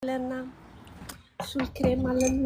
ኣለና ሱል ክሬም ኣለና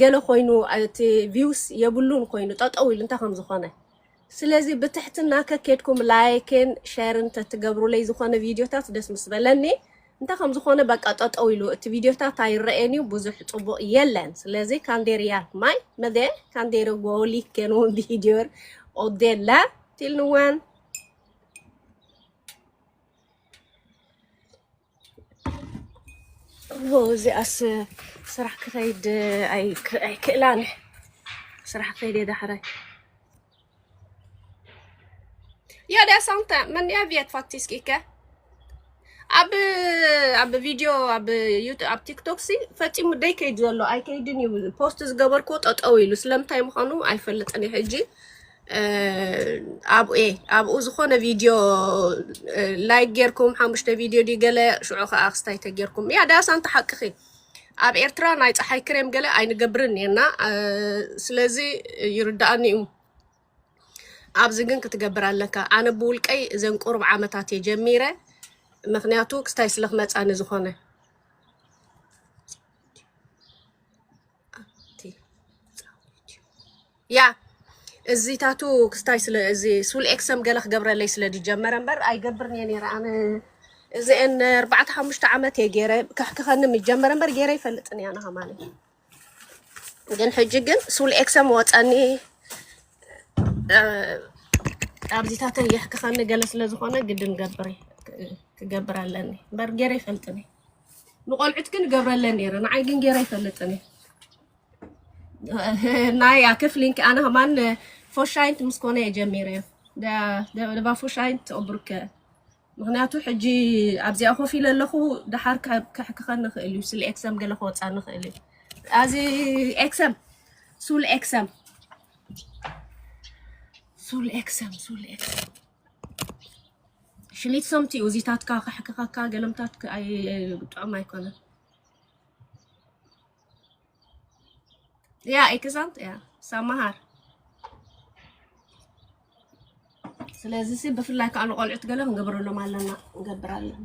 ገለ ኮይኑ እቲ ቪውስ የብሉን ኮይኑ ጠጠው ኢሉ እንታይ ከምዝኾነ ስለዚ ብትሕትና ከኬድኩም ላይክን ሸርን ተትገብሩለይ ዝኾነ ቪድዮታት ደስ ምስ በለኒ እንታይ ከምዝኾነ በቃ ጠጠው ኢሉ እቲ ቪድዮታት ኣይረኤን እዩ ብዙሕ ፅቡቕ የለን ስለዚ ካንዴር ያርክ ማይ መደ ካንዴር ጎሊከን ውን ቪድዮር ኦዴላ ቲልንዋን እዚኣስ ስራሕ ክኸይድ ኣይክእላን ስራሕ ከይድ ዳሕራይ Ja, det er sant, det. Men jeg vet faktisk ikke. ኣብ ኣብ ቪድዮ ኣብ ዩቱብ ኣብ ቲክቶክ ሲ ፈፂሙ ደይ ከይድ ዘሎ ኣይከይድን እዩ ፖስት ዝገበርኩ ጠጠው ኢሉ ስለምንታይ ምዃኑ ኣይፈልጥን እዩ ሕጂ እ፣ ኣብኡ እየ ኣብኡ ዝኾነ ቪድዮ እ፣ ላይክ ጌርኩም ሓሙሽተ ቪድዮ ድዩ ገለ ሽዑ ከዓ ክስታይ ተጌርኩም እያ ዳስ ኣንቲ ሓቅኺ ኣብ ኤርትራ ናይ ፀሓይ ክሬም ገለ ኣይንገብርን እየና እ፣ ስለዚ ይርድኣኒ እዩ ኣብዚ ግን ክትገብር ኣለካ ኣነ ብውልቀይ እዘን ቁሩብ ዓመታት እየ ጀሚረ ምክንያቱ ክስታይ ስለ ክመፃኒ ዝኾነ ኣቲ ጻውዒት እዩ ያ እዚ ታቱ ክስታይ ስለ እዚ ሱል ኤክሰም ገለ ክገብረለይ ስለ ዝጀመረ እምበር ኣይገብርን እየ ነይረ ኣነ እዚአን ኣርባዕተ ሓሙሽተ ዓመት እየ ገይረ ከሕክኸኒ ምጀመረ እምበር ገይረ ይፈልጥን እያ ንሃማኒ ግን ሕጂ ግን ሱል ኤክሰም ወፀኒ ኣብዚታተይ የሕክኸኒ ገለ ስለ ዝኾነ ግድን ገብር ክገብር ኣለኒ እምበር ገይረ ይፈልጥን እየ ንቆልዑት ግን ገብረለን ነይረ ንዓይ ግን ገይረ ይፈልጥን ናይ ክፍሊን ኣነ ከማን ፎሻይንት ምስ ኮነ እየ ጀሚረ ደባ ፎሻይንት ኦብርከ ምክንያቱ ሕጂ ኣብዚኣ ኮፍ ኢለ ኣለኹ ድሓር ክሕክኸን ንኽእል እዩ ስለ ኤክሰም ገለ ክወፃ ንኽእል እዩ ኣዚ ኤክሰም ሱል ኤክሰም ሱል ኤክሰም ሱል ኤክሰም ሽሊት ሰምቲ እዩ እዚታትካ ከሕክኸካ ገለምታት ጥዑም ኣይኮነን ያ ኤክዛምት ያ ሰማሃር ስለዚ ሲ ብፍላይ ከዓ ንቆልዑት ገለ ክንገብረሎም ኣለና ንገብር ኣለና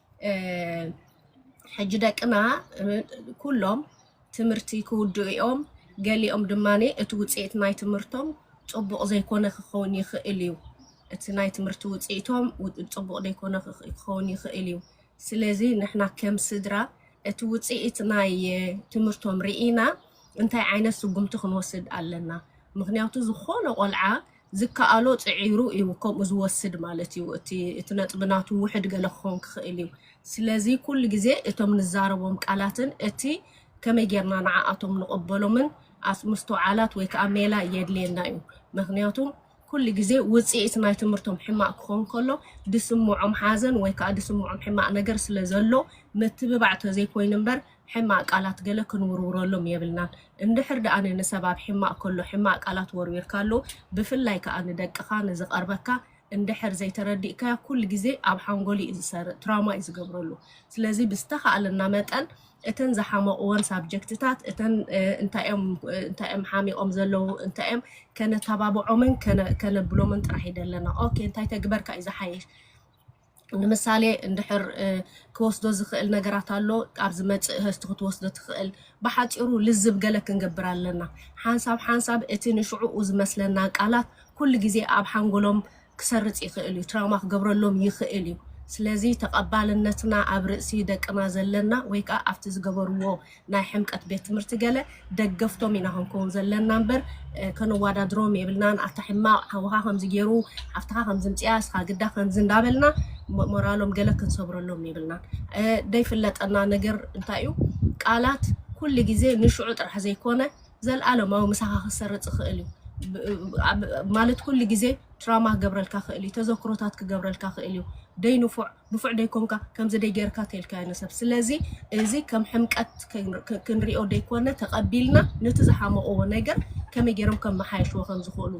ሕጂ ደቅና ኩሎም ትምህርቲ ክውድኡ እዮም። ገሊኦም ድማ እቲ ውፅኢት ናይ ትምህርቶም ፅቡቕ ዘይኮነ ክኸውን ይኽእል እዩ። እቲ ናይ ትምህርቲ ውፅኢቶም ፅቡቕ ዘይኮነ ክኸውን ይኽእል እዩ። ስለዚ ንሕና ከም ስድራ እቲ ውፅኢት ናይ ትምህርቶም ርኢና እንታይ ዓይነት ስጉምቲ ክንወስድ ኣለና? ምክንያቱ ዝኾነ ቆልዓ ዝከኣሎ ጽዒሩ እዩ ከምኡ ዝወስድ ማለት እዩ። እቲ እቲ ነጥቢ ናቱ ውሕድ ገለ ክኸውን ክኽእል እዩ። ስለዚ ኩሉ ግዜ እቶም ንዛረቦም ቃላትን እቲ ከመይ ጌርና ንዓኣቶም ንቕበሎምን ኣስ ምስትውዓላት ወይ ከዓ ሜላ የድልየና እዩ። ምክንያቱም ኩሉ ግዜ ውጽኢት ናይ ትምህርቶም ሕማቕ ክኸውን ከሎ ድስምዖም ሓዘን ወይ ከዓ ድስምዖም ሕማቕ ነገር ስለ ዘሎ ምትብባዕ ተዘይኮይኑ እምበር ሕማቅ ቃላት ገለ ክንውርውረሎም የብልናን እንድሕር ድኣ ንሰብ ኣብ ሕማቅ ከሎ ሕማቅ ቃላት ወርዊርካሉ ብፍላይ ከኣ ንደቅካ ንዝቀርበካ እንድሕር ዘይተረዲእካዮ ኩሉ ግዜ ኣብ ሓንጎሉ እዩ ዝሰርእ ትራውማ እዩ ዝገብረሉ ስለዚ ብዝተካእለና መጠን እተን ዝሓመቅወን ሳብጀክትታት እተን እንታይ እዮም እንታይ እዮም ሓሚቆም ዘለዉ እንታይ እዮም ከነተባብዖምን ከነብሎምን ጥራሕ ይደለና ኦኬ እንታይ ተግበርካ እዩ ዝሓይሽ ንምሳሌ እንድሕር ክወስዶ ዝኽእል ነገራት ኣሎ ኣብ ዝመጽእ ህዝቲ ክትወስዶ ትኽእል ብሓፂሩ ልዝብ ገለ ክንገብር ኣለና ሓንሳብ ሓንሳብ እቲ ንሽዕኡ ዝመስለና ቃላት ኩሉ ግዜ ኣብ ሓንጎሎም ክሰርፅ ይኽእል እዩ ትራማ ክገብረሎም ይኽእል እዩ ስለዚ ተቐባልነትና ኣብ ርእሲ ደቅና ዘለና ወይ ከዓ ኣብቲ ዝገበርዎ ናይ ሕምቀት ቤት ትምህርቲ ገለ ደገፍቶም ኢና ክንከውን ዘለና እምበር ከነዋዳድሮም የብልናን ኣታ ሕማቅ ሓውኻ ከምዚ ገይሩ ሓፍትኻ ከምዚ ምፅያ እስኻ ግዳ ከምዚ እንዳበልና ሞራሎም ገለ ክንሰብረሎም የብልናን ደይፍለጠና ነገር እንታይ እዩ ቃላት ኩሉ ግዜ ንሽዑ ጥራሕ ዘይኮነ ዘልኣለማዊ ምሳኻ ክሰርፅ ይኽእል እዩ ማለት ኩሉ ግዜ ትራማ ክገብረልካ ክእል እዩ ተዘክሮታት ክገብረልካ ክእል እዩ ደይ ንፉዕ ንፉዕ ደይኮንካ ከምዚ ደይ ገርካ ተልካዮ ንሰብ ስለዚ እዚ ከም ሕምቀት ክንሪኦ ደይኮነ ተቀቢልና ነቲ ዝሓመቅዎ ነገር ከመይ ገሮም ከመሓየሽዎ ከምዝክእሉ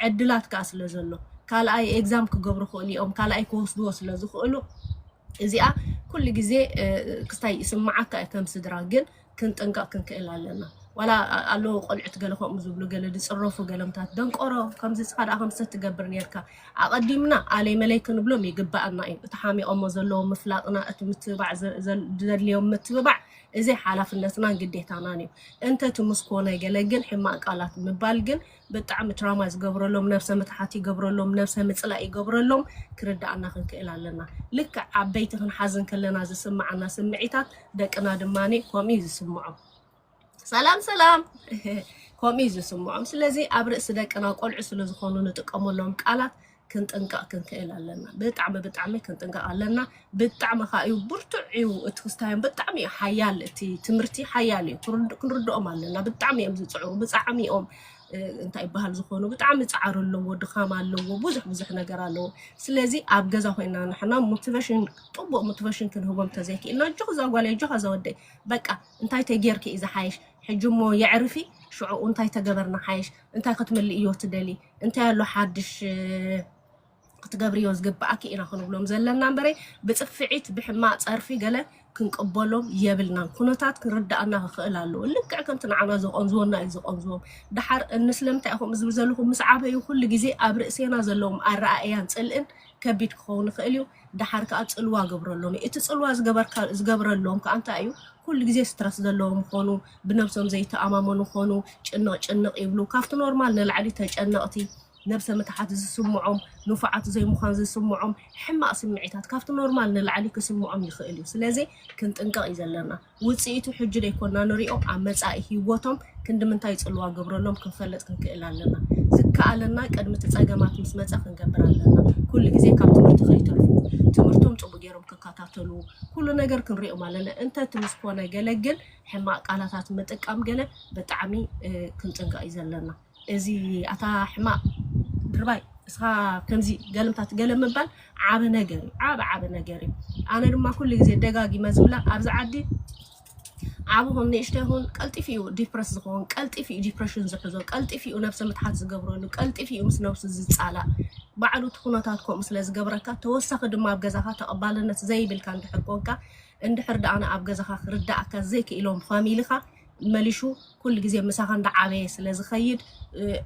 ዕድላት ከኣ ስለዘሎ ካልኣይ ኤግዛም ክገብሩ ክእሉ እዮም ካልኣይ ክወስድዎ ስለዝክእሉ እዚኣ ኩሉ ግዜ ክስታይ ይስምዓካ ከም ስድራ ግን ክንጥንቀቅ ክንክእል ኣለና ዋላ ኣለዉ ቆልዑት ገለ ከምኡ ዝብሉ ገለ ዝጽረፉ ገለምታት ደንቆሮ ከምዚ ንስኻ ደኣ ከምሰ ትገብር ነርካ ኣቐዲምና ኣለይ መለይ ክንብሎም ይግባኣና እዩ እቲ ሓሚቖሞ ዘለዎ ምፍላጥና እቲ ምትብባዕ ዘድልዮም ምትብባዕ እዚ ሓላፍነትናን ግዴታናን እዩ እንተ ትምስኮ ነገለ ግን ሕማቅ ቃላት ምባል ግን ብጣዕሚ ትራማ ዝገብረሎም ነብሰ ምትሓት ይገብረሎም ነብሰ ምጽላእ ይገብረሎም ክርድኣና ክንክእል ኣለና ልክዕ ዓበይቲ ክንሓዝን ከለና ዝስምዓና ስምዒታት ደቅና ድማ ከምኡ እዩ ዝስምዖም ሰላም ሰላም ከምኡ እዩ ዝስምዖም ስለዚ ኣብ ርእሲ ደቅና ቆልዑ ስለ ዝኾኑ ንጥቀመሎም ቃላት ክንጥንቀቅ ክንክእል ኣለና ብጣዕሚ ብጣዕሚ ክንጥንቀቅ ኣለና ብጣዕሚ ከዓ እዩ ብርቱዕ እዩ እቲ ክስታዮም ብጣዕሚ እዩ ሓያል እቲ ትምህርቲ ሓያል እዩ ክንርድ- ክንርድኦም ኣለና ብጣዕሚ እዮም ዝፅዕሩ ብጣዕሚ እዮም እ፣ እንታይ ይበሃል ዝኾኑ ብጣዕሚ ፃዕሪ ኣለዎ ድኻም ኣለዎ ብዙሕ ብዙሕ ነገር ኣለዎ ስለዚ ኣብ ገዛ ኮይና ንሕና ሞቲቬሽን ጥቡቅ ሞቲቬሽን ክንህቦም ተዘይክኢልና እጆኽ እዛ ጓለይ እጆኻ እዛ ወደይ በቃ እንታይ ተጌርኪ እዩ ዝሓይሽ ሕጂ እሞ የዕርፊ ሽዑኡ እንታይ ተገበርና ሓይሽ እንታይ ክትምልእ እዮ ትደሊ እንታይ ኣሎ ሓድሽ ክትገብርዮ ዝግብኣኪ ኢና ክንብሎም ዘለና እምበረይ ብፅፍዒት ብሕማቅ ፀርፊ ገለ ክንቅበሎም የብልናን ኩነታት ክንርዳእና ክኽእል ኣለዎ ልክዕ ከምቲ ንዓና ዘቆንዝወና እዩ ዘቆንዝዎም ድሓር እንስለምንታይ ኢኹም ዝብል ዘለኹም ምስ ዓበዩ ኩሉ ግዜ ኣብ ርእሴና ዘለዎም ኣረኣእያን ፅልእን ከቢድ ክኸውን ይኽእል እዩ ድሓር ከዓ ፅልዋ ገብረሎም እዩ እቲ ፅልዋ ዝገበርካ ዝገብረሎም ከዓ እንታይ እዩ ኩሉ ግዜ ስትረስ ዘለዎም ምኾኑ ብነብሶም ዘይተኣማመኑ ኮኑ ጭንቕ ጭንቕ ይብሉ ካብቲ ኖርማል ንላዕሊ ተጨነቕቲ ነብሰ ምትሓት ዝስምዖም ንፉዓት ዘይምዃን ዝስምዖም ሕማቕ ስምዒታት ካብቲ ኖርማል ንላዕሊ ክስምዖም ይኽእል እዩ ስለዚ ክንጥንቀቕ እዩ ዘለና ውጽኢቱ ሕጂ ደይኮና ንሪኦ ኣብ መጻኢ ሂወቶም ክንድምንታይ ጽልዋ ገብረሎም ክንፈልጥ ክንክእል ኣለና ዝከኣለና ቅድሚ እቲ ጸገማት ምስ መጸ ክንገብር ኣለና ኩሉ ግዜ ካብ ትምህርቲ ከይተርፉ ትምህርቶም ጽቡቕ ገይሮም ክከታተሉ ኩሉ ነገር ክንሪኦም ኣለና እንተ እቲ ምስ ኮነ ገለ ግን ሕማቅ ቃላታት ምጥቃም ገለ ብጣዕሚ ክንጥንቀቅ እዩ ዘለና እዚ ኣታ ሕማቅ ድርባይ እስኻ ከምዚ ገልምታት ገለ ምባል ዓቢ ነገር እዩ ዓቢ ዓቢ ነገር እዩ ኣነ ድማ ኩሉ ግዜ ደጋጊመ ዝብላ ኣብዚ ዓዲ ዓቢ ኹን ንእሽቶ ይኹን ቀልጢፉ እዩ ዲፕረስ ዝኸውን ቀልጢፉ እዩ ዲፕሬሽን ዝሕዞ ቀልጢፉ እዩ ነብሰ ምትሓት ዝገብረሉ ቀልጢፉ እዩ ምስ ነብሱ ዝጻላእ ባዕሉ እቲ ኩነታት ከምኡ ስለ ዝገብረካ ተወሳኺ ድማ ኣብ ገዛኻ ተቐባልነት ዘይብልካ እንድሕር ኮንካ እንድሕር ደኣ ንኣብ ገዛኻ ክርደኣካ ዘይክኢሎም ፋሚሊኻ መሊሹ ኩሉ ግዜ ምሳኻ እንዳዓበየ ስለ ዝኸይድ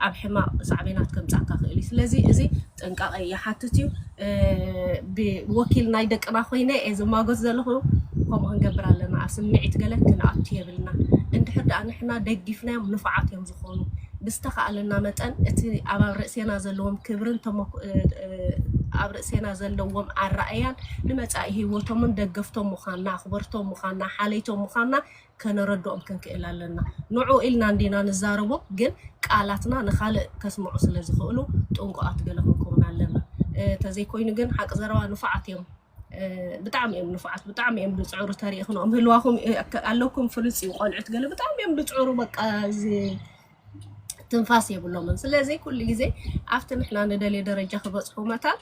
ኣብ ሕማቕ ሳዕቤናት ከምጽኣካ ክእል እዩ ስለዚ እዚ ጥንቃቐ ይሓትት እዩ ብወኪል ናይ ደቅና ኮይነ እየ ዝማጎት ዘለኹ ከምኡ ክንገብር ኣለና ኣብ ስምዒት ገለ ክንኣቱ የብልና እንድሕር ደኣ ንሕና ደጊፍናዮም ንፉዓት እዮም ዝኾኑ ብዝተኻእለና መጠን እቲ ኣብ ርእሴና ዘለዎም ክብርን ተመኩ ኣብ ርእሴና ዘለዎም ኣረኣእያን ንመጻኢ ህይወቶምን ደገፍቶም ምዃንና፣ ኣኽበርቶም ምዃንና፣ ሓለይቶም ምዃንና ከነረድኦም ክንክእል ኣለና። ንዕኡ ኢልና እንዲና ንዛረቦ ግን ቃላትና ንኻልእ ከስምዑ ስለ ዝኽእሉ ጥንቁቓት ገለ ክንከውን ኣለና። ተዘይኮይኑ ግን ሓቂ ዘረባ ንፉዓት እዮም ብጣዕሚ እዮም ንፉዓት ብጣዕሚ እዮም ዝጽዕሩ ተሪእኽንኦም ህልዋኹም ኣለኩም ፍሉጥ እዩ ቆልዑት ገለ ብጣዕሚ እዮም ዝጽዕሩ በቃ ትንፋስ የብሎምን። ስለዚ ኩሉ ግዜ ኣብቲ ንሕና ንደልዮ ደረጃ ክበፅሑ መታን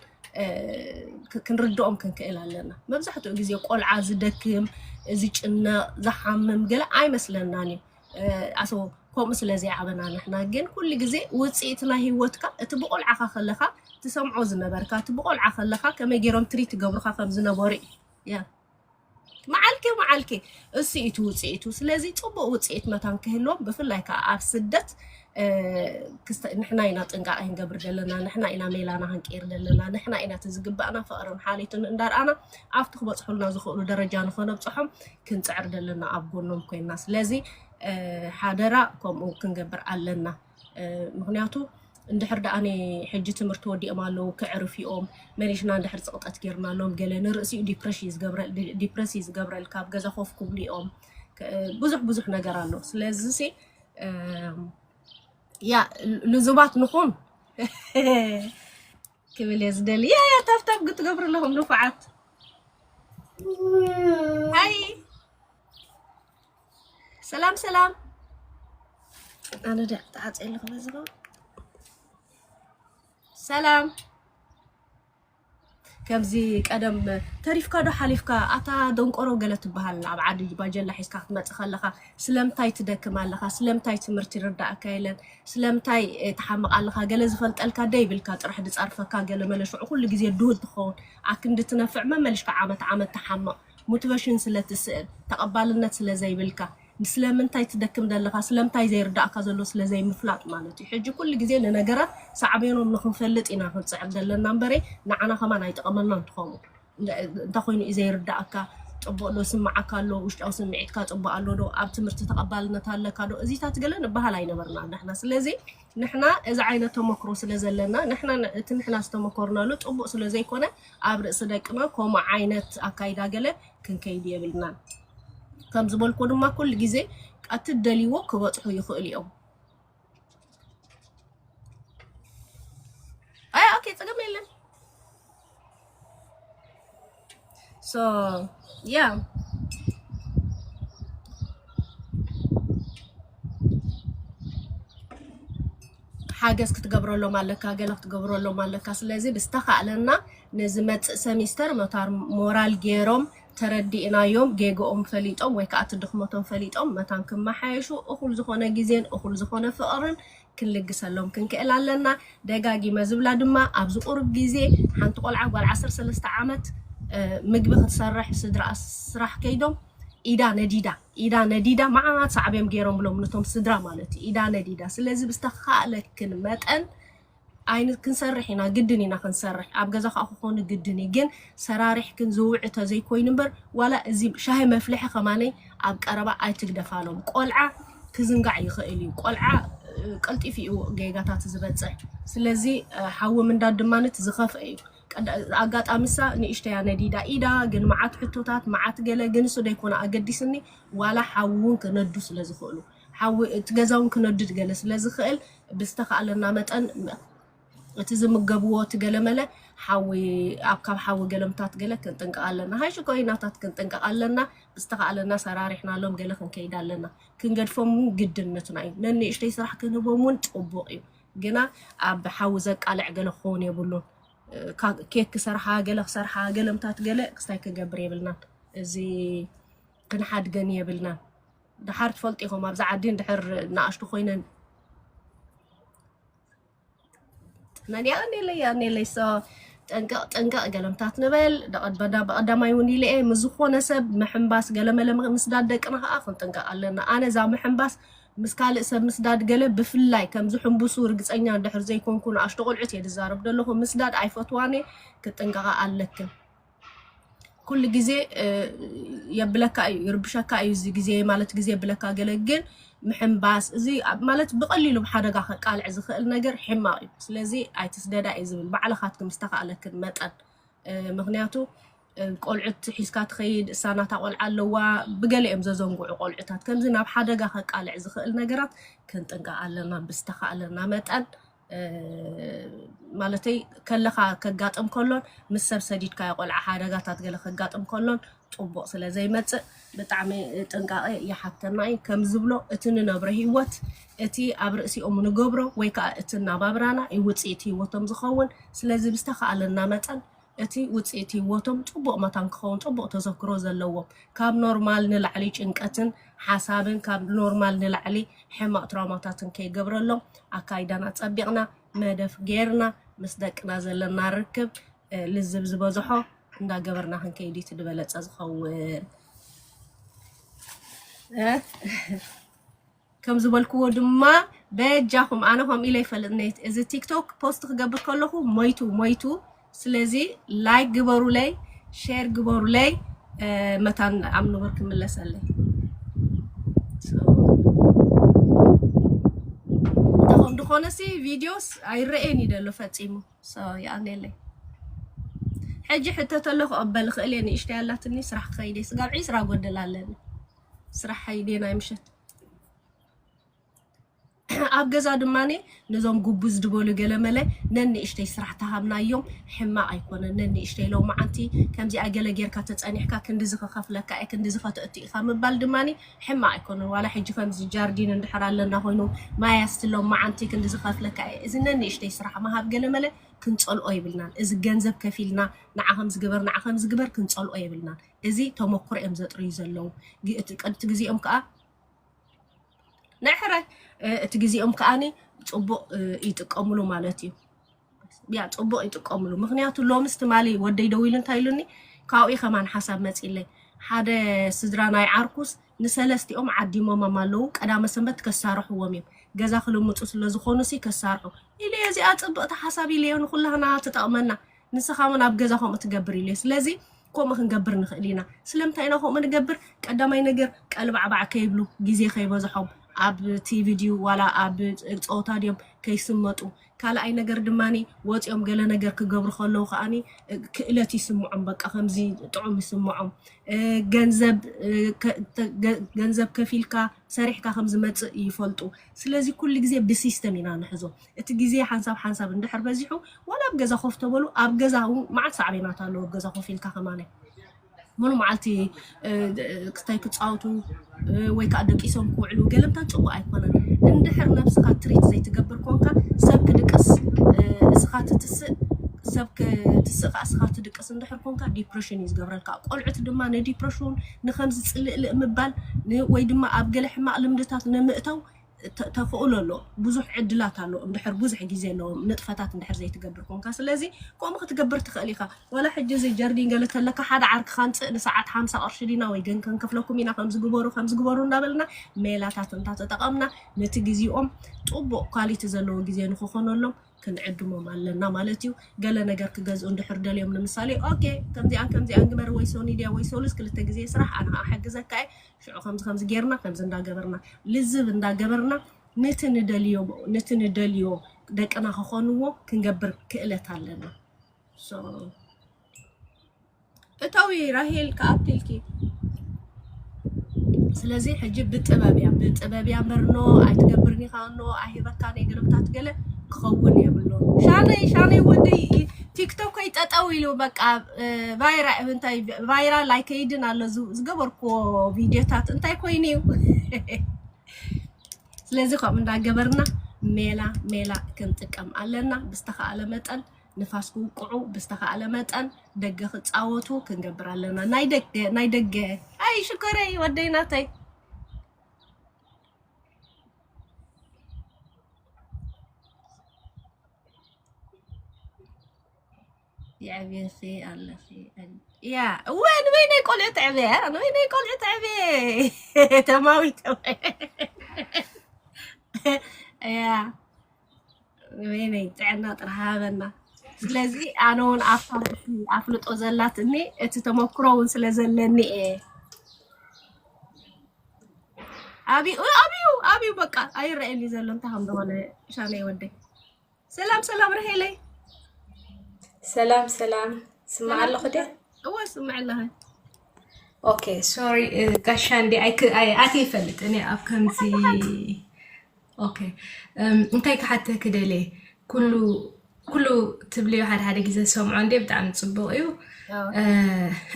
ክንርድኦም ክንክእል ኣለና። መብዛሕትኡ ግዜ ቆልዓ ዝደክም፣ ዝጭነቕ፣ ዝሓምም ገለ ኣይመስለናን እዩ ኣሶ ከምኡ ስለ ዘይዓበና ንሕና ግን ኩሉ ግዜ ውፅኢት ናይ ህይወትካ እቲ ብቆልዓኻ ከለኻ ትሰምዖ ዝነበርካ እቲ ብቆልዓ ከለኻ ከመይ ገይሮም ትሪት ትገብሩኻ ከም ዝነበሩ እዩ። መዓልቲ መዓልቲ እሱ እዩ እቲ ውፅኢቱ። ስለዚ ፅቡቅ ውፅኢት መታን ክህልዎም ብፍላይ ከዓ ኣብ ስደት ንሕና ኢና ጥንቃቀ ክንገብር ዘለና ንሕና ኢና ሜላና ክንቅይር ዘለና ንሕና ኢና እቲ ዝግባእና ፍቅርን ሓልዮትን እንዳርኣና ኣብቲ ክበፅሑልና ዝኽእሉ ደረጃ ንኸነብፅሖም ክንፅዕር ዘለና ኣብ ጎኖም ኮይና ስለዚ ሓደራ ከምኡ ክንገብር ኣለና ምክንያቱ እንድሕር ደኣ ናይ ሕጂ ትምህርቲ ወዲኦም ኣለዉ ክዕርፍ ዩኦም መሪሕና እንድሕር ጽቕጠት ጌርናሎም ገለ ንርእሲ እዩ ዲፕረሽ እዩ ዝገብረ ዲፕረስ እዩ ዝገብረል ካብ ገዛ ኮፍ ክብሉ እዮም ከ- ብዙሕ ብዙሕ ነገር ኣሎ ስለዚ ሲ እም፣ ያ ልዙባት ንኹን ክብል እየ ዝደሊ ያ ያ ታብታብ ክትገብሩ ኣለኹም ንፉዓት ሃይ ሰላም ሰላም ኣነ ደ ተዓፀ ኣለኹ በዚ ኸ ሰላም ከምዚ ቀደም ተሪፍካ ዶ ሓሊፍካ ኣታ ደንቆሮ ገለ ትበሃል ኣብ ዓዲ ባጀላ ሒዝካ ክትመፅእ ከለኻ ስለምንታይ ትደክም ኣለኻ ስለምንታይ ትምህርቲ ይርዳእካ የለን ስለምንታይ እ፣ ትሓምቕ ኣለኻ ገለ ዝፈልጠልካ ደይብልካ ጥራሕ ድፀርፈካ ገለ መለ ሽዑ ኩሉ ግዜ ድሁል ትኸውን ኣክንዲ ትነፍዕ መመልሽካ ዓመት ዓመት ትሓምቕ ሞትቨሽን ስለ ትስእን ተቀባልነት ስለ ዘይብልካ ስለምንታይ ትደክም ዘለካ ስለምታይ ዘይርዳእካ ዘሎ ስለ ዘይምፍላጥ ማለት እዩ ሕጂ ኩሉ ግዜ ንነገራት ሳዕቤኖም ንክንፈልጥ ኢና ክንጽዕር ዘለና እምበረ ንዓና ከማን ኣይጠቀመናን ትኸሙ እንታይ ኮይኑ እዩ ዘይርዳእካ ጽቡቅ ዶ ስምዓካ ኣሎ ውሽጣዊ ስምዒትካ ጽቡቅ ኣሎ ዶ ኣብ ትምህርቲ ተቀባልነት ኣለካ ዶ እዚታት ገለ ንበሃል ኣይነበርና ንሕና ስለዚ ንሕና እዚ ዓይነት ተመክሮ ስለ ዘለና ንሕና እቲ ንሕና ዝተመኮርናሉ ጽቡቅ ስለ ዘይኮነ ኣብ ርእሲ ደቅና ኮሙ ዓይነት ኣካይዳ ገለ ክንከይድ የብልናን ከም ዝበልኩ ድማ ኩሉ ግዜ ኣቲ ደልዎ ክበጽሑ ይኽእሉ እዮም ኣይ ኦኬ ጽገም የለን ሶ ያ ሓገዝ ክትገብረሎም ኣለካ ገለ ክትገብረሎም ኣለካ ስለዚ ብዝተካእለና ንዝመጽእ ሰሚስተር መታር ሞራል ገይሮም ተረዲእናዮም ጌግኦም ፈሊጦም ወይ ከዓ እቲ ድኽመቶም ፈሊጦም መታን ክመሓየሹ እኹል ዝኾነ ግዜን እኹል ዝኾነ ፍቕርን ክንልግሰሎም ክንክእል ኣለና ደጋጊመ ዝብላ ድማ ኣብዚ ቁሩብ ግዜ ሓንቲ ቆልዓ ጓል ዓሰርተ ሰለስተ ዓመት ምግቢ ክትሰርሕ ስድራኣ ስራሕ ከይዶም ኢዳ ነዲዳ ኢዳ ነዲዳ መዓት ሳዕቤን ጌሮምሎም ነቶም ስድራ ማለት እዩ ኢዳ ነዲዳ ስለዚ ብዝተኻእለክን መጠን ኣይን ክንሰርሕ ኢና ግድን ኢና ክንሰርሕ ኣብ ገዛ ከዓ ክኾኑ ግድን እዩ ግን ሰራሪሕክን ዝውዕ ተዘይኮይኑ እምበር ዋላ እዚ ሻሂ መፍልሒ ከማነይ ኣብ ቀረባ ኣይትግደፋሎም ቆልዓ ክዝንጋዕ ይኽእል እዩ ቆልዓ እ፣ ቀልጢፉ እዩ ጌጋታት ዝበፅሕ ስለዚ እ፣ ሓዊ ምንዳድ ድማ ነት ዝኸፍአ እዩ ኣጋጣሚ እሳ ንእሽተይ እያ ነዲዳ ኢዳ ግን መዓት ሕቶታት መዓት ገለ ግን እሱ ደይኮነ ኣገዲስኒ ዋላ ሓዊ እውን ክነዱ ስለ ዝኽእሉ ሓዊ እቲ ገዛ እውን ክነድድ ገለ ስለ ዝኽእል ብዝተኻእለና መጠን እቲ ዝምገብዎ እቲ ገለመለ ሓዊ ኣብ ካብ ሓዊ ገለምታት ገለ ክንጥንቀቕ ኣለና ሃይ ሽኮሪናታት ክንጥንቀቕ ኣለና ብዝተኻእለና ሰራሪሕናሎም ገለ ክንከይድ ኣለና ክንገድፎም ግድነትና እዩ ነንእሽተይ ስራሕ ክንህቦም እውን ፅቡቕ እዩ ግና ኣብ ሓዊ ዘቃልዕ ገለ ክኸውን የብሉን። ኬክ ክሰርሓ ገለ ክሰርሓ ገለምታት ገለ ክስታይ ክገብር የብልናን። እዚ ክንሓድገን የብልናን። ድሓር ትፈልጡ ኢኹም ኣብዚ ዓዲ ድሕር ንኣሽቱ ኮይነን ጥነን ያ ኔለይ ያ ኔለይ ሶ ጥንቅቕ ጥንቅቕ ገለምታት ንበል ብቐዳማይ እውን ኢለ እየ ምስ ዝኾነ ሰብ ምሕምባስ ገለመለ ምስዳድ ደቅና ከዓ ክንጥንቀቕ ኣለና ኣነ እዛ ምሕምባስ ምስ ካልእ ሰብ ምስዳድ ገለ ብፍላይ ከም ዝሕንብሱ ርግጸኛ እንድሕር ዘይኮንኩ ንኣሽቱ ቆልዑት እየ ዝዛረብ ዘለኹ ምስዳድ ኣይፈትዋን እየ ክትጥንቀቓ ኣለክን ኩሉ ግዜ የብለካ እዩ ይርብሸካ እዩ እዚ ግዜ ማለት ግዜ የብለካ ገለ ግን ምሕንባስ እዚ ማለት ብቐሊሉ ብሓደጋ ከቃልዕ ዝኽእል ነገር ሕማቕ እዩ ስለዚ ኣይትስደዳ እዩ ዝብል ባዕልኻትክም ዝተኻእለክን መጠን ምክንያቱ ቆልዑት ሒዝካ ትኸይድ እሳ ናታ ቆልዓ ኣለዋ ብገለ እዮም ዘዘንግዑ ቆልዑታት ከምዚ ናብ ሓደጋ ከቃልዕ ዝኽእል ነገራት ክንጥንቀቕ ኣለና ብዝተኻእለና መጠን እ፣ ማለተይ ከለኻ ከጋጥም ከሎን ምስ ሰብ ሰዲድካዮ ቆልዓ ሓደጋታት ገለ ከጋጥም ከሎን ፅቡቕ ስለ ዘይመፅእ ብጣዕሚ ጥንቃቐ ይሓተና እዩ ከም ዝብሎ እቲ ንነብሮ ህይወት እቲ ኣብ ርእሲኦም ንገብሮ ወይ ከዓ እቲ እናባብራና እዩ ውፅኢት ህይወቶም ዝኸውን ስለዚ ብዝተኻእለና መጠን እቲ ውጽኢት ህይወቶም ጽቡቕ መታን ክኸውን ጽቡቕ ተዘክሮ ዘለዎም፣ ካብ ኖርማል ንላዕሊ ጭንቀትን ሓሳብን ካብ ኖርማል ንላዕሊ ሕማቕ ትራውማታትን ከይገብረሎም ኣካይዳና ኣጸቢቕና መደፍ ጌርና ምስ ደቅና ዘለና ርክብ ልዝብ ዝበዝሖ እንዳገበርና ክንከይድ እዩ እቲ ዝበለጸ ዝኸውን። ከም ዝበልክዎ ድማ በጃኹም ኣነ ከምኡ ኢለ ኣይፈልጥን እዚ ቲክቶክ ፖስት ክገብር ከለኹ ሞይቱ ሞይቱ ስለዚ ላይክ ግበሩለይ ሼር ግበሩለይ እ፣ መታን ኣብ ንቡር ክምለሰለይ እንተኸም ዝኾነሲ ቪድዮስ ኣይረኤን እዩ ደሎ ፈፂሙ ሶ ይኣልየለይ ሕጂ ሕተተሎ ክቕበል ይኽእል እየ ንእሽተይ ኣላትኒ ስራሕ ክኸይድ እየ ስጋብ ዒስራ ጎደል ኣለኒ ስራሓይ ድየ ናይ ምሸት ኣብ ገዛ ድማ ነዞም ጉቡዝ ድበሉ ገለመለ ነንእሽተይ ስራሕ ተሃብናዮም ሕማቕ ኣይኮነን ነንእሽተይ ሎ መዓንቲ ከምዚኣ ገለ ጌርካ ተፀኒሕካ ክንዲዚ ክኸፍለካ እየ ክንዲዚ ከተእቱ ኢኻ ምባል ድማ ሕማቕ ኣይኮነን ዋላ ሕጂ ከምዚ ጃርዲን እንድሕር ኣለና ኮይኑ ማይ ኣስትሎም መዓንቲ ክንዲዚ ከፍለካ እየ እዚ ነንእሽተይ ስራሕ ምሃብ ገለመለ ክንፀልኦ የብልናን እዚ ገንዘብ ከፊልና ንዓ ከምዚ ግበር ንዓ ከምዚ ግበር ክንፀልኦ የብልናን እዚ ተመኩሮ እዮም ዘጥርዩ ዘለው እቲ ግዜኦም ከዓ ናይ ሕራይ እቲ ግዜኦም ከዓኒ ፅቡቅ ይጥቀምሉ ማለት እዩ ያ ፅቡቅ ይጥቀምሉ ምክንያቱ ሎምስ ትማሊ ወደይ ደው ኢሉ እንታይ ኢሉኒ ካብኡ ከማን ሓሳብ መፂለይ ሓደ ስድራ ናይ ዓርኩስ ንሰለስቲኦም ዓዲሞሞም ኣለው ቀዳመ ሰንበት ከሳርሕዎም እዮም ገዛ ክልምፁ ስለዝኮኑ ሲ ከሳርሑ ኢለየ እዚኣ ፅብቅቲ ሓሳብ ኢለዮ ንኩላህና ትጠቅመና ንስኻ ውን ኣብ ገዛ ከምኡ ትገብር ኢለ ስለዚ ከምኡ ክንገብር ንኽእል ኢና ስለምንታይ ኢና ከምኡ ንገብር ቀዳማይ ነገር ቀልባዕባዕ ከይብሉ ግዜ ከይበዝሖም ኣብ ቲቪ ድዩ ዋላ ኣብ ፀወታ ድዮም ከይስመጡ ካልኣይ ነገር ድማ ወፂኦም ገለ ነገር ክገብሩ ከለዉ ከዓ ክእለት ይስምዖም በቃ ከምዚ ጥዑም ይስምዖም ገንዘብ ገንዘብ ከፊልካ ሰሪሕካ ከም ዝመፅእ ይፈልጡ ስለዚ ኩሉ ግዜ ብሲስተም ኢና ንሕዞ እቲ ግዜ ሓንሳብ ሓንሳብ እንድሕር በዚሑ ዋላ ኣብ ገዛ ኮፍ ተበሉ ኣብ ገዛ እውን መዓት ሳዕቤናት ኣለዎ ኣብ ገዛ ኮፍ ኢልካ ከማነ ሙሉ መዓልቲ ክታይ ክፃወቱ ወይ ከዓ ደቂሶም ክውዕሉ ገለምታ ፅቡቅ ኣይኮነን እንድሕር ነብስካ ትሪት ዘይትገብር ኮንካ ሰብ ክድቅስ እስኻ ትትስእ ሰብ ክትስእ ከዓ እስኻ ትድቅስ እንድሕር ኮንካ ዲፕሬሽን እዩ ዝገብረልካ ቆልዑት ድማ ንዲፕሬሽን ንኸምዚ ጽልእልእ ምባል ን ወይ ድማ ኣብ ገለ ሕማቕ ልምድታት ንምእታው ተ ተኽእሎ ኣሎ። ብዙሕ ዕድላት ኣሎ እንድሕር ብዙሕ ግዜ ኣለዎም ንጥፈታት እንድሕር ዘይትገብር ኮንካ። ስለዚ ከምኡ ክትገብር ትኽእል ኢኻ። ዋላ ሕጂ እዚ ጀርዲን ገለ ተለካ ሓደ ዓርክኻ ኣምጽእ ንሰዓት ሓምሳ ቅርሺ ዲና ወይ ግን ክንከፍለኩም ኢና ከምዚ ግበሩ ከምዚ ግበሩ እንዳበልና ሜላታት እንተተጠቐምና ነቲ ግዜኦም ጥቡቕ ኳሊቲ ዘለዎ ግዜ ንኽኾነሎም ክንዕድሞም ኣለና ማለት እዩ። ገለ ነገር ክገዝኡ እንድሕር ደልዮም ንምሳሌ ኦኬ ከምዚኣን ከምዚኣን ግበር ወይ ሶኒ ድያ ወይ ሶሉስ ክልተ ግዜ ስራሕ ኣነ ከዓ እሕግዘካ እየ ሽዑ ከምዚ ከምዚ ጌርና ከምዚ እንዳገበርና ልዝብ እንዳገበርና ንቲ ንደልዮ ንቲ ንደልዮ ደቅና ክኾንዎ ክንገብር ክእለት ኣለና። So እተዊ ራሄል ክኣክልኪ ስለዚ ሕጂ ብጥበብ እያ ብጥበብ እያ መርኖ ኣይትገብርን ኢኻ እኖ ኣይህበካን እየ ገለምታት ገለ ክኸውን የብሎ ሻነይ ሻነይ ወዲ ቲክቶከይ ጠጠው ኢሉ በቃ ቫይራ እንታይ ቫይራል ኣይከይድን ኣሎ ዝ- ዝገበርክዎ ቪድዮታት እንታይ ኮይኑ እዩ ስለዚ ከምኡ እንዳገበርና ሜላ ሜላ ክንጥቀም ኣለና ብዝተኻእለ መጠን ንፋስ ክውቅዑ ብዝተኻእለ መጠን ደገ ክፃወቱ ክንገብር ኣለና ናይ ደገ ናይ ደገ ኣይ ሽኮረይ ወደይ ናተይ የዕብየኺ ኣለኺ እያ እወ ንበይነይ ቆልዑ ትዕብየ ንበይነይ ቆልዑ ትዕብየ ተማዊት እያ ወይነይ ጥዕና ጥራሕ ሃበና። ስለዚ ኣነ እውን ኣብታ ርእሲ ኣፍልጦ ዘላትኒ እቲ ተመክሮ እውን ስለ ዘለኒ እየ ኣብዩ ኣብዩ ኣብዩ በቃ ኣይረአየኒ ዘሎ እንታይ ከም ዝኾነ ሻነይ ወደይ። ሰላም ሰላም ርሄለይ ሰላም ሰላም ስማዕ ሰላም ኣለኹ ድያ ሰላም እወ ስምዕ ኣለኸ ኦኬ ሶሪ ጋሻ እንዲ ኣይክ ኣይ ኣት ይፈልጥ እኔ ኣብ ከምዚ ኦኬ እም፣ እንታይ ክሓተኪ ደልየ ኩሉ ኩሉ ትብልዮ ሓደ ሓደ ግዜ ዝሰምዖ እንዴ ብጣዕሚ ፅቡቅ እዩ እ፣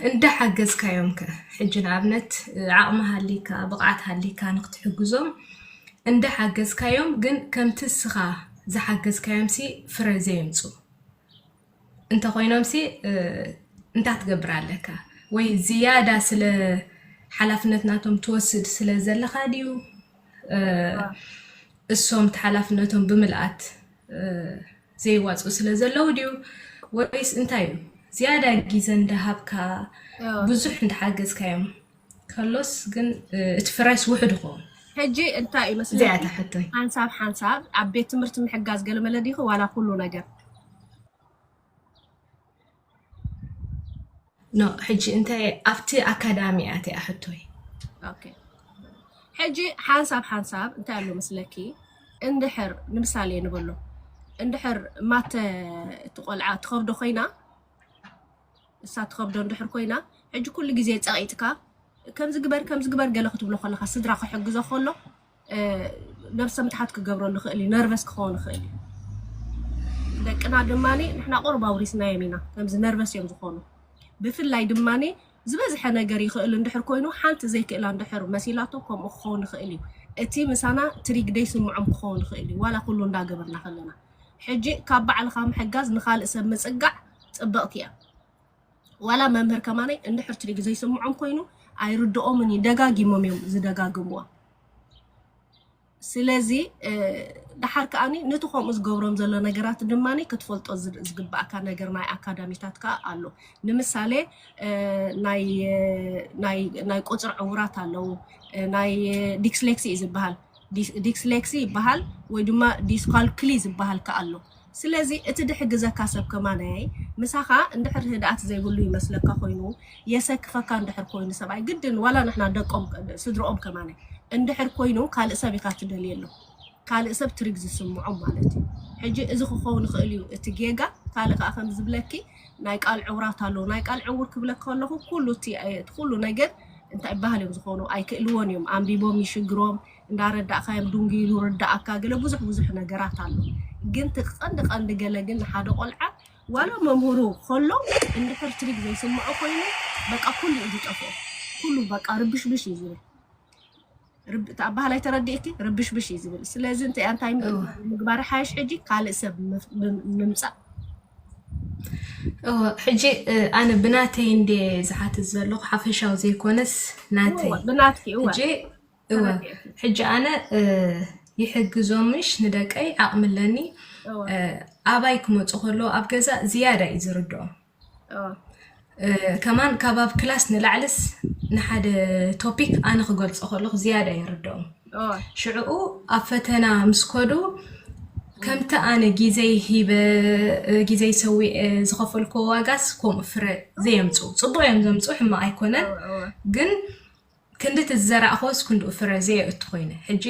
እንዳሓገዝካዮም ከ ሕጂ ንኣብነት እ፣ ዓቅሚ ሃሊካ ብቅዓት ሃሊካ ንክትሕግዞም እንዳሓገዝካዮም ግን ከምቲ እስኻ ዝሓገዝካዮምሲ ፍረ ዘየምፁ እንተኾይኖምሲ እንታይ ትገብር ኣለካ? ወይ ዝያዳ ስለ ሓላፍነት ናቶም ትወስድ ስለ ዘለኻ ድዩ እሶም እቲ ሓላፍነቶም ብምልኣት ዘይዋፅኡ ስለ ዘለዉ ድዩ ወይስ እንታይ እዩ ዝያዳ ግዘ እንዳሃብካ ብዙሕ እንዳሓገዝካዮም ከሎስ ግን እቲ ፍራይስ ውሕድ ይኸውን ሕጂ እንታይ እዩ መስለኪ እዚኣ እታ ሕቶይ ሓንሳብ ሓንሳብ ኣብ ቤት ትምህርቲ ምሕጋዝ ገለመለ ዲኺ ዋላ ኩሉ ነገር ኖ ሕጂ እንታይ ኣብቲ ኣካዳሚ እያ እቲኣ ሕቶይ ኦኬ ሕጂ ሓንሳብ ሓንሳብ እንታይ ኣሎ መስለኪ እንድሕር ንምሳሌ ንበሎ እንድሕር ማተ እቲ ቆልዓ ትኸብዶ ኮይና ንሳ ትኸብዶ እንድሕር ኮይና ሕጂ ኩሉ ግዜ ጸቒጥካ ከምዚ ግበር ከምዚ ግበር ገለ ክትብሎ ከለኻ ስድራ ክሕግዞ ከሎ ነብሰ ምትሓት ክገብረሉ ይኽእል እዩ ነርቨስ ክኸውን ይኽእል እዩ ደቅና ድማ ንሕና ቁርብ ኣውሪስናዮም ኢና ከምዚ ነርቨስ እዮም ዝኾኑ ብፍላይ ድማ ዝበዝሐ ነገር ይኽእል እንድሕር ኮይኑ ሓንቲ ዘይክእላ እንድሕር መሲላቶ ከምኡ ክኸውን ይኽእል እዩ እቲ ምሳና ትሪግደይ ስምዖም ክኸውን ይኽእል እዩ ዋላ ኩሉ እንዳገበርና ከለና ሕጂ ካብ ባዕልኻ ምሕጋዝ ንኻልእ ሰብ ምጽጋዕ ጽብቕቲ እያ። ዋላ መምህር ከማነይ እንድሕር ትሪግ ዘይስምዖም ኮይኑ ኣይርድኦምን እዩ ደጋጊሞም እዮም ዝደጋግምዋ ስለዚ ድሓር ከዓኒ ነቲ ከምኡ ዝገብሮም ዘሎ ነገራት ድማ ክትፈልጦ ዝግባእካ ነገር ናይ ኣካዳሚታት ከዓ ኣሎ ንምሳሌ ናይ ቁፅሪ ዕውራት ኣለዉ ናይ ዲክስሌክሲ እዩ ዝበሃል ዲስሌክሲ ይበሃል ወይ ድማ ዲስካልኩሊ ዝበሃል ከኣ ኣሎ። ስለዚ እቲ ድሕግዘካ ሰብ ከማናየይ ምሳኻ እንድሕር ርህድኣት ዘይብሉ ይመስለካ ኮይኑ የሰክፈካ እንድሕር ኮይኑ ሰብኣይ ግድን ዋላ ንሕና ደቆም ስድርኦም ከማናይ እንድሕር ኮይኑ ካልእ ሰብ ኢኻ ትደልየሉ ካልእ ሰብ ትሪግ ዝስምዖም ማለት እዩ ሕጂ እዚ ክኸውን ይኽእል እዩ እቲ ጌጋ ካልእ ከኣ ከምዝብለኪ ናይ ቃል ዕውራት ኣለዉ ናይ ቃል ዕውር ክብለክ ከለኹ ኩሉ እቲ ኩሉ ነገር እንታይ ባህል እዮም ዝኾኑ ኣይክእልዎን እዮም ኣንቢቦም ይሽግሮም እንዳረዳእካዮም ዱንጊ ኢሉ ርዳእካ ገለ ብዙሕ ብዙሕ ነገራት ኣሎ ግን ትቀንዲ ቀንዲ ገለ ግን ንሓደ ቆልዓ ዋላ መምህሩ ከሎ እንድሕር ትሪግ ዘይስምዖ ኮይኑ በቃ ኩሉ እዩ ዝጠፍኦ ኩሉ በቃ ርብሽብሽ እዩ ዝብል ርብ- እቲ ኣባህላይ ተረዲእኪ ርብሽብሽ እዩ ዝብል ስለዚ እንታይ ኣንታይ እው ምግባር ሓይሽ ሕጂ ካልእ ሰብ ምፍ- ምም- ምምፃእ እው ሕጂ እ፣ ኣነ ብናተይ እንደ ዝሓትት ዘለኹ ሓፈሻዊ ዘይኮነስ እወ ናተይ ብናትኪ እወ ሕጂ እወ ተረዲእኪ ሕጂ ኣነ እ፣ ይሕግዞምሽ ንደቀይ ዓቕሚ ኣለኒ እወ እ፣ ኣባይ ክመፁ ከለዉ ኣብ ገዛ ዝያዳ እዩ ዝርድኦም ከማን ካብ ኣብ ክላስ ንላዕልስ ንሓደ ቶፒክ ኣነ ክገልፆ ከለኹ ዝያዳ የርድኦም ሽዕኡ ኣብ ፈተና ምስ ከዱ ከምቲ ኣነ ግዜይ ሂበ ግዜይ ሰዊአ ዝኸፈልክዎ ዋጋስ ከምኡ ፍረ ዘየምፁ ፅቡቅ እዮም ዘምፁ ሕማቅ ኣይኮነን ግን ክንዲ እቲ ዝዘራእክዎስ ክንድኡ ፍረ ዘየእቱ ኮይነ ሕጂ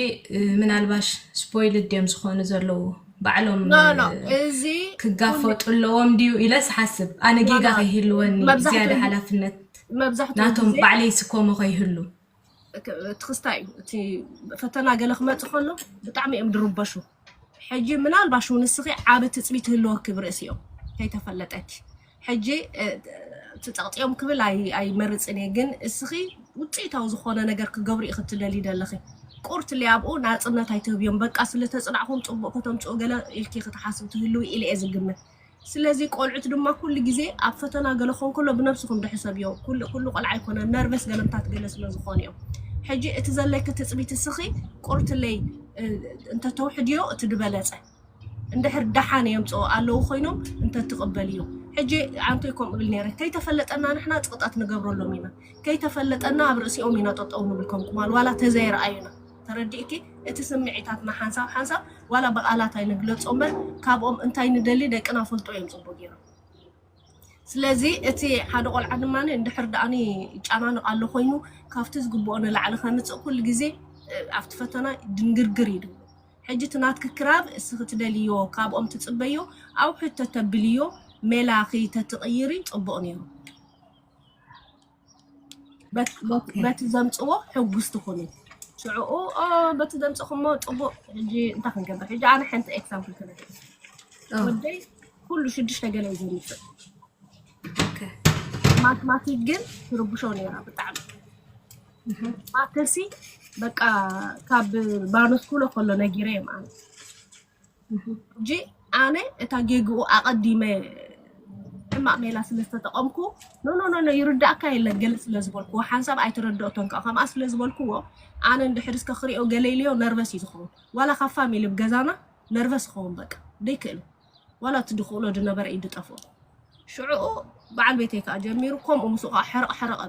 ምናልባሽ ስፖይልድ ድዮም ዝኾኑ ዘለዉ ባዕሎም ኖ ኖ እ፣ እዚ ኩሉ ክጋፈጡ ኣለዎም ድዩ ኢለ ስሓስብ ኣነ ኖ ጌጋ ኖ ከይህልወኒ መብዛሕትኡ ዝያዳ ግ- ሓላፍነት መብዛሕትኡ ግዜ ናቶም ባዕለይ ስኮሞ ከይህሉ ክ- እቲ ክስታይ እዩ እቲ ፈተና ገለ ክመፅእ ከሎ ብጣዕሚ እዮም ድርበሹ ሕጂ ምናልባሽ እውን ንስኺ ዓብ ትፅቢት ህልወኪ ብርእሲኦም ከይተፈለጠኪ ሕጂ ትፀቕጢኦም ክብል ኣይመርፅን እየ ግን እስኺ ውፅኢታዊ ዝኾነ ነገር ክገብሩ እዩ ክትደሊ ደለኺ ቁርት ሊኣብኡ ናፅነት ኣይትህብዮም በቃ ስለተፅናዕኹም ፅቡቕ ከተምፅኡ ገለ ኢልኪ ክትሓስብ ትህልው ኢለ እየ ዝግምት ስለዚ ቆልዑት ድማ ኩሉ ግዜ ኣብ ፈተና ገለ ክኾን ከሎ ብነብስኹም ድሑ ሰብ እዮም ኩሉ ኩሉ ቆልዓ ኣይኮነን ነርቨስ ገለምታት ገለ ስለ ዝኾኑ እዮም ሕጂ እቲ ዘለኪ ትፅቢት እስኺ ቁርትለይ እ፣ እንተተውሕድዮ እቲ ድበለፀ እንድሕር ደሓን የምፅኦ ኣለዉ ኮይኖም እንተትቕበልዮ ሕጂ ኣንቶይ ከምኡ ብል ነይረ ከይተፈለጠና ንሕና ፅቕጣት ንገብረሎም ኢና ከይተፈለጠና ኣብ ርእሲኦም ኢና ጠጠው ንብል ከም ቁማል ዋላ ተዘይረኣዩና ተረዲእኪ እቲ ስምዒታትና ሓንሳብ ሓንሳብ ዋላ ብቃላት ኣይንግለጾ እምበር ካብኦም እንታይ ንደሊ ደቅና ይፈልጡ እዮም ጽቡቅ ጌሮም ስለዚ እቲ ሓደ ቆልዓ ድማ እንድሕር ደኣኒ ይጨናንቅ ኣሎ ኮይኑ ካብቲ ዝግብኦ ንላዕሊ ከምጽእ ኩሉ ግዜ ኣብቲ ፈተና ድንግርግር ይድሉ ሕጂ እቲ ናትኪ ክራብ እስኺ ትደልዮ ካብኦም ትጽበዮ ኣውሕድ ተተብልዮ ሜላኺ ተትቕይሪ ጽቡቅ ኔሩ በቲ ዘምፅዎ ሕጉስቲ ኩኑ ሽዕኡ በቲ ዘምፅኹሞ ፅቡቅ ሕጂ እንታይ ክንገብር ሕጂ ኣነ ሓንቲ ኤግዛምፕል ክነገር ወደይ ኩሉ ሽዱሽተ ገለ እዩ ዘምፅእ ማትማቲክ ግን ትርብሾ ነይራ ብጣዕሚ ማተሲ በቃ ካብ ባነስኩሎ ከሎ ነጊረ ማለት ሕጂ ኣነ እታ ጌግኡ ኣቐዲመ ሕማቕ ሜላ ስለ ዝተጠቐምኩ ኖኖኖኖ ይርዳእካ የለን ገለ ስለ ዝበልኩዎ ሓንሳብ ኣይተረድኦቶን ከዓ ከምኣ ስለ ዝበልኩዎ ኣነ እንድሕር እስከ ክሪኦ ገለ ኢልዮ ነርቨስ እዩ ዝኸውን ዋላ ካብ ፋሚሊ ብ ገዛና ነርቨስ ይኸውን በቃ ደይክእሉ ዋላ እቲ ድኽእሎ ድነበረ እዩ ድጠፍኦ ሽዕኡ በዓል ቤተይ ከዓ ጀሚሩ ከምኡ ምስኡ ከዓ ሕርቕ ሕርቕ እብል